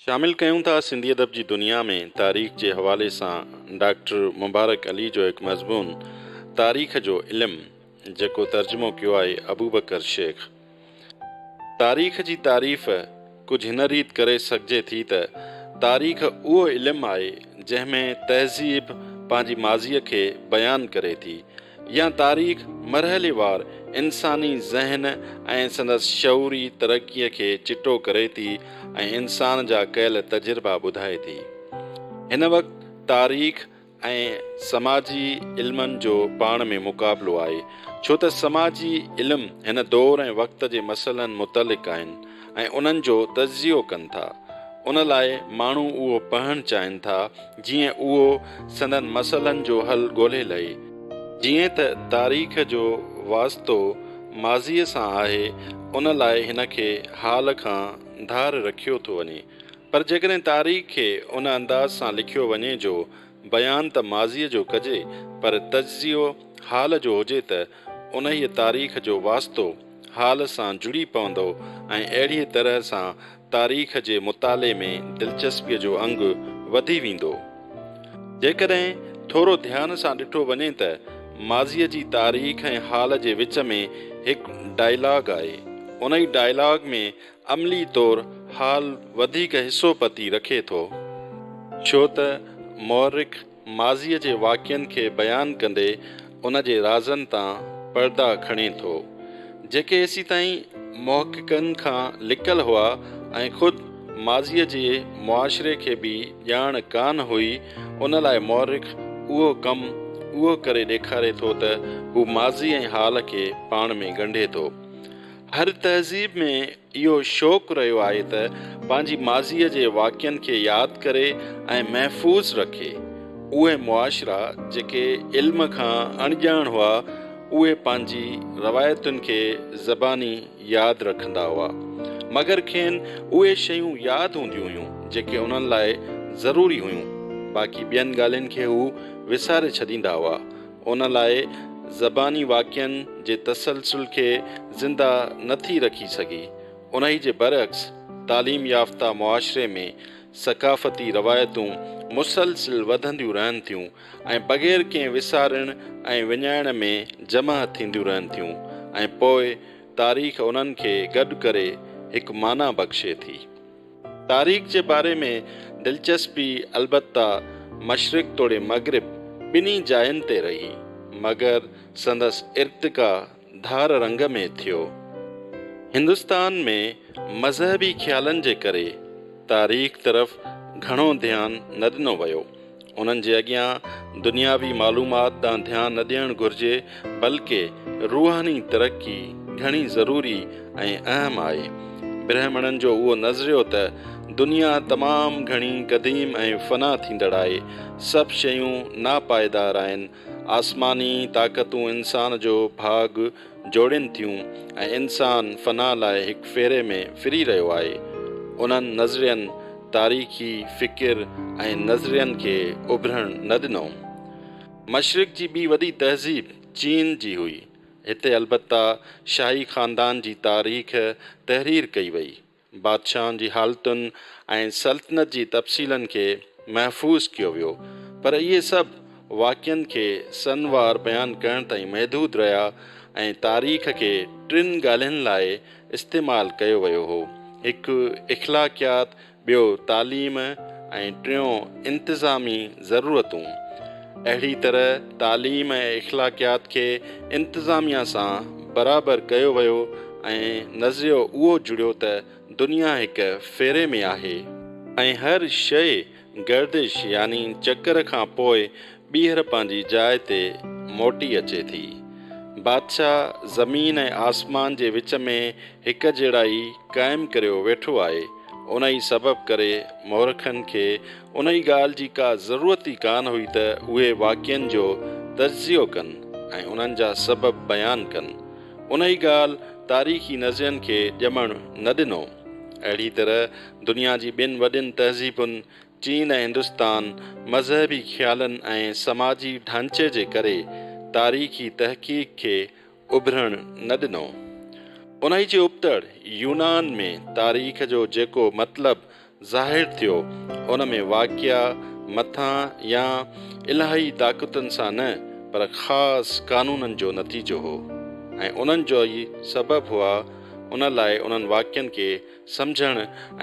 شامل ڪيون ٿا سنڌي ادب جي دنيا ۾ تاريخ جي حوالي سان ڊاڪٽر مبارڪ علي جو هڪ مضمون تاريخ جو علم جيڪو ترجمو ڪيو آهي ابوبڪر شيخ تاريخ جي تعريف ڪجهه هن ريت ڪري سگهجي ٿي ته تاريخ اهو علم آهي جنهن ۾ تهذيب پنهنجي ماضي کي بيان ڪري ٿي يا تاريخ مرحليوار انساني ذهن ۽ سندس شعوري ترقيء کي چٽو ڪري ٿي ۽ انسان جا ڪيل تجربا ٻڌائي ٿي. هن وقت تاريخ ۽ سماجي علمن جو پاڻ ۾ مقابلو آهي، ڇو ته سماجي علم هن دور ۽ وقت جي مسئلن متعلق آهن. ۽ انهن جو تجزيو ڪن ٿا. ان لاء ماڻهو اهو پڙهڻ چاهين ٿا جيئن اهو سندن مسئلن جو حل ڳولهي لهي. جيئن ته تاريخ جو واسطو ماضيء سان آهي، ان لاء هن کي حال کان ڌار رکيو ٿو وڃي. پر جيڪڏهن تاريخ کي ان انداز سان لکيو وڃي جو بيان ته ماضيء جو ڪجي پر تجزيو حال جو هجي ته انهيء تاريخ جو واسطو حال سان جڙي پوندو ۽ اهڙيء طرح سان تاريخ جي مطالعي ۾ دلچسپيء جو انگ وڌي ويندو. جيڪڏهن ٿورو ڌيان سان ڏٺو وڃي ته ماضيء جي تاريخ ۽ حال جي وچ ۾ هڪ ڊائلاگ آهي. انهيء ڊائلاگ ۾ عملي طور حال وڌيڪ حصو پتي رکي ٿو. ڇو ته مؤرخ ماضيء جي واقعن کي بيان ڪندي ان جي رازن تان پردا کڻي ٿو، جيڪي ايسيتائين محققن کان لڪل هئا ۽ خود ماضيء جي معاشري کي به ڄاڻ ڪانه هئي، ان لاء مؤرخ اهو ڪم اهو ڪري ڏيکاري ٿو ته هو ماضي ۽ حال کي پاڻ ۾ ڳنڍي ٿو. هر تهذيب ۾ اهو شوق رهيو آهي ته پنهنجي ماضيء جي واقعن کي ياد ڪري ۽ محفوظ رکي. اهي معاشرا جيڪي علم کان اڻڄاڻ هئا، اهي پنهنجي روايتن کي زباني ياد رکندا هئا، مگر کين اهي شيون ياد هونديون هيون جيڪي انهن لاء ضروري هيون، باقي ٻين ڳالهين کي هو وساري ڇڏيندا هئا. ان لاء زباني واقعن جي تسلسل کي زنده نه ٿي رکي سگهي. انهي جي برعڪس تعليم يافته معاشري ۾ ثقافتي روايتون مسلسل وڌنديون رهن ٿيون ۽ بغير ڪنهن وسارڻ ۽ وڃائڻ ۾ جمع ٿينديون رهن ٿيون ۽ پوء تاريخ انهن کي گڏ ڪري هڪ معنيٰ بخشي ٿي. تاريخ جي باري ۾ دلچسپي البته مشرق توڙي مغرب ٻنهي جاين تي رهي، مگر سندس ارتقا ڌار رنگ ۾ ٿيو. هندستان ۾ مذهبي خيالن جي ڪري تاريخ طرف گهڻو ڌيان نه ڏنو ويو. انهن جي اڳيان دنياوي معلومات ڏانهن ڌيان نه ڏيڻ گهرجي بلڪه روحاني ترقي گهڻي ضروري ۽ اهم آهي. برهمڻن جو اهو نظريو ته دنيا تمام گهڻي قديم ۽ فنا ٿيندڙ آهي، سڀ شيون ناپائيدار آهن، آسماني طاقتون انسان جو ڀاڳ جوڙين ٿيون ۽ انسان فنا لاء هڪ ڦيري ۾ ڦري رهيو آهي. انهن نظرين تاريخي فڪر ۽ نظرين کي اڀرڻ نه ڏنو. مشرق جي ٻي وڏي تهذيب چين جي هئي. هتي البته شاهي خاندان جي تاريخ تحرير ڪئي وئي. بادشاهن جي حالتن ۽ سلطنت جي تفصيلن کي محفوظ ڪيو ويو، پر اهي سڀ واقعن کي سن وار بيان ڪرڻ تائين محدود رهيا ۽ تاريخ کي ٽن ڳالهين لاء استعمال ڪيو ويو هو، هڪ اخلاقيات، ٻيو تعليم ۽ ٽيون انتظامي ضرورتون. اهڙي طرح تعليم ۽ اخلاقيات کي انتظاميه سان برابر ڪيو ويو ۽ نظريو اهو جڙيو ته دنيا هڪ ڦيري ۾ آهي ۽ هر شيء گردش يعني چڪر کان پوء ٻيهر پنهنجي جاء تي موٽي اچي ٿي. بادشاهه زمين ۽ آسمان جي وچ ۾ هڪجهڙائي قائم ڪريو ويٺو آهي، انهي سبب ڪري مورخن کي انهي ڳالهه جي ڪا ضرورت ئي ڪانه هئي ته اهي واقعن جو تجزيو ڪن ۽ انهن جا سبب بيان ڪن. انهي ڳالهه تاريخي نظرين کي ڄمڻ نه ڏنو. اهڙي طرح دنيا جي ٻن وڏين تهذيبن چين ۽ هندستان مذهبي خيالن ۽ سماجي ڍانچي جي ڪري تاريخي تحقيق کي اڀرڻ نه ڏنو. انهيء جي ابتڙ يونان ۾ تاريخ جو جيڪو مطلب ظاهر ٿيو، ان ۾ واقعا مٿان يا الاهي طاقتن سان نه، پر خاص قانونن جو نتيجو هو، ۽ انهن جا ئي سبب هئا، ان لاء انهن واقعن کي سمجهڻ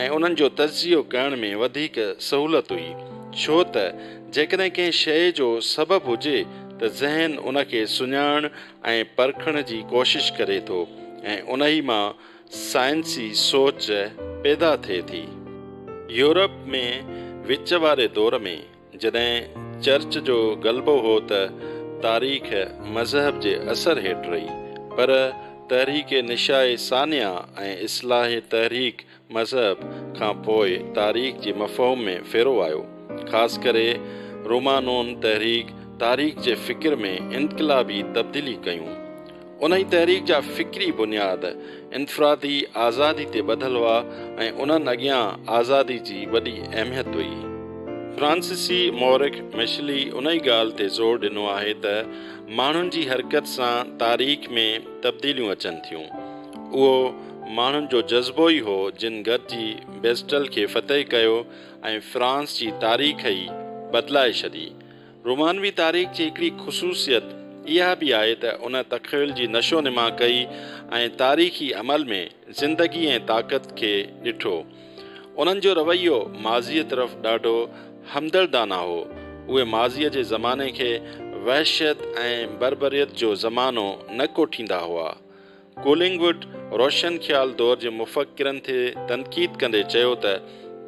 ۽ انهن جو تجزيو ڪرڻ ۾ وڌيڪ سهولت هئي، ڇو ته جيڪڏهن ڪنهن شيء جو سبب هجي ته ذهن ان کي سڃاڻڻ ۽ پرکڻ جي ڪوشش ڪري ٿو ۽ انهي مان سائنسي سوچ پيدا ٿئي ٿي. يورپ ۾ وچ واري دور ۾، جڏهن چرچ جو غلبو هو ته تاريخ مذهب جي اثر هيٺ رهي پر تحريڪ نشاء ثانيه ۽ اصلاحي تحريڪ مذهب کان پوء تاريخ جي مفهوم ۾ ڦيرو آيو. خاص ڪري رومانون تحريڪ تاريخ جي فڪر ۾ انقلابي تبديلي ڪيون. انهيء تحريڪ جا فڪري بنياد انفرادي آزادي تي ٻڌل هئا ۽ انهن اڳيان آزادي جي وڏي اهميت هئي. فرانسيسي مورخ مشلي انهيء ڳالهه تي زور ڏنو آهي ته ماڻهن جي حرڪت سان تاريخ ۾ تبديليون اچن ٿيون. اهو ماڻهن جو جذبو ئي هو جن گڏجي بيسٽل کي فتح ڪيو ۽ فرانس جي تاريخ ئي بدلائي ڇڏي. رومانوي تاريخ جي هڪڙي خصوصيت اها به آهي ته ان تخيل جي نشو نما ڪئي ۽ تاريخي عمل ۾ زندگي ۽ طاقت کي ڏٺو. انهن جو رويو ماضيء طرف ڏاڍو همدردانه هو. اهي ماضيء جي زماني کي وحشت ۽ بربريت جو زمانو نه ڪوٺيندا هئا. ڪولنگوڊ روشن خيال دور جي مفڪرن تي تنقيد ڪندي چيو ته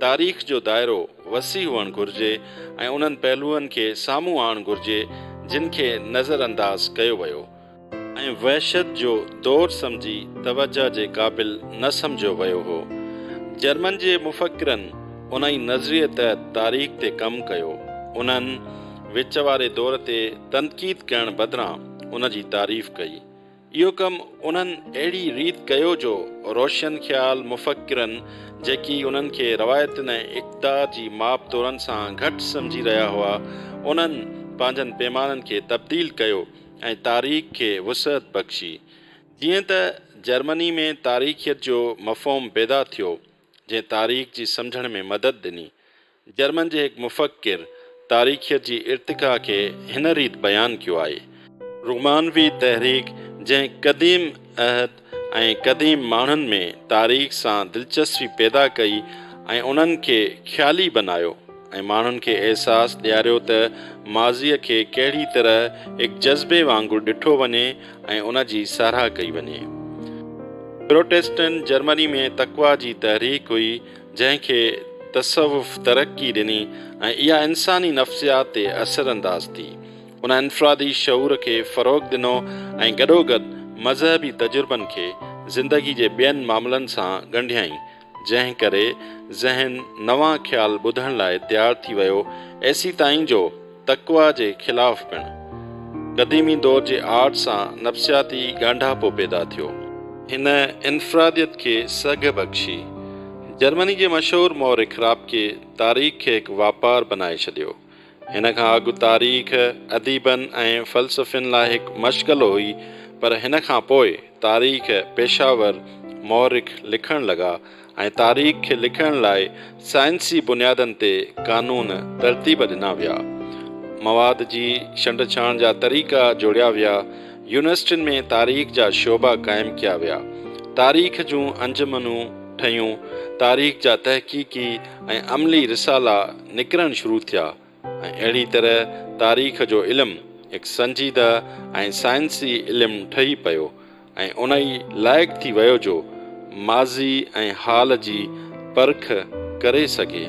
تاريخ جو دائرو وسيع هئڻ گهرجي ۽ انهن پهلوئن کي سامهون آڻڻ گهرجي جن کي نظر انداز ڪيو ويو ۽ وحشت جو دور سمجهي توجهه جي قابل نه سمجهيو ويو هو. جرمن جي مفڪرن ان ئي نظريي تحت تاريخ تي ڪم ڪيو. انهن وچ واري دور تي تنقيد ڪرڻ بدران ان جي تعريف ڪئي. اهو ڪم انهن اهڙي ريت ڪيو جو روشن خيال مفڪرن جيڪي انهن کي روايتن ۽ اقدار جي ماپ تورن سان گهٽ سمجهي رهيا هئا انهن پنهنجن پيمانن کي تبديل ڪيو ۽ تاريخ کي وسعت بخشي جيئن ته جرمني ۾ تاريخيت جو مفهوم پيدا ٿيو جنهن تاريخ جي سمجهڻ ۾ مدد ڏني جرمن جي هڪ مفڪر تاريخيت جي ارتقا کي هن ريت بيان ڪيو آهي. رومانوي تحريڪ جنهن قديم عهد ۽ قديم ماڻهن ۾ تاريخ سان دلچسپي پيدا ڪئي ۽ انهن کي خيالي بنايو ۽ ماڻهن کي احساس ڏياريو ته ماضيء کي ڪهڙي طرح هڪ جذبي وانگر ڏٺو وڃي ۽ ان جي ساراهه ڪئي وڃي. پروٽيسٽنٽ جرمني ۾ تقويٰ جي تحريڪ هئي. جنهن کي تصوف ترقي ڏني ۽ اها انساني نفسيات تي اثر انداز ٿي. ان انفرادي شعور کي فروغ ڏنو ۽ گڏوگڏ مذهبي تجربن کي زندگي جي ٻين معاملن سان ڳنڍيائين، جنهن ڪري ذهن نوان خيال ٻڌڻ لاء تيار ٿي ويو ايسيتائين جو، تقويٰ جي خلاف پڻ. قديمي دور جي آرٽ سان نفسياتي ڳانڍاپو پيدا ٿيو. هن انفراديت کي سگهه بخشي. جرمني جي مشهور مؤرخ رابڪي تاريخ کي هڪ واپار بنائي ڇڏيو. هن کان اڳ تاريخ اديبن ۽ فلسفين لاء هڪ مشغلو هئي پر هن کان پوء تاريخ پيشه ور مؤرخ لکڻ لڳا. ۽ تاريخ کي لکڻ لاء سائنسي بنيادن تي قانون ترتيب ڏنا ويا. مواد جي ڇنڊڇاڻ جا طريقا جوڙيا ويا. يونيورسٽين ۾ تاريخ جا شعبا قائم ڪيا ويا. تاريخ جون انجمنون ٺهيون. تاريخ جا تحقيقي ۽ عملي رسالا نڪرڻ شروع ٿيا. ۽ اهڙي طرح تاريخ جو علم هڪ سنجيده ۽ سائنسي علم ٺهي پيو ۽ ان ئي لائق ٿي ويو جو ماضي ۽ حال جي پرک ڪري سگهي.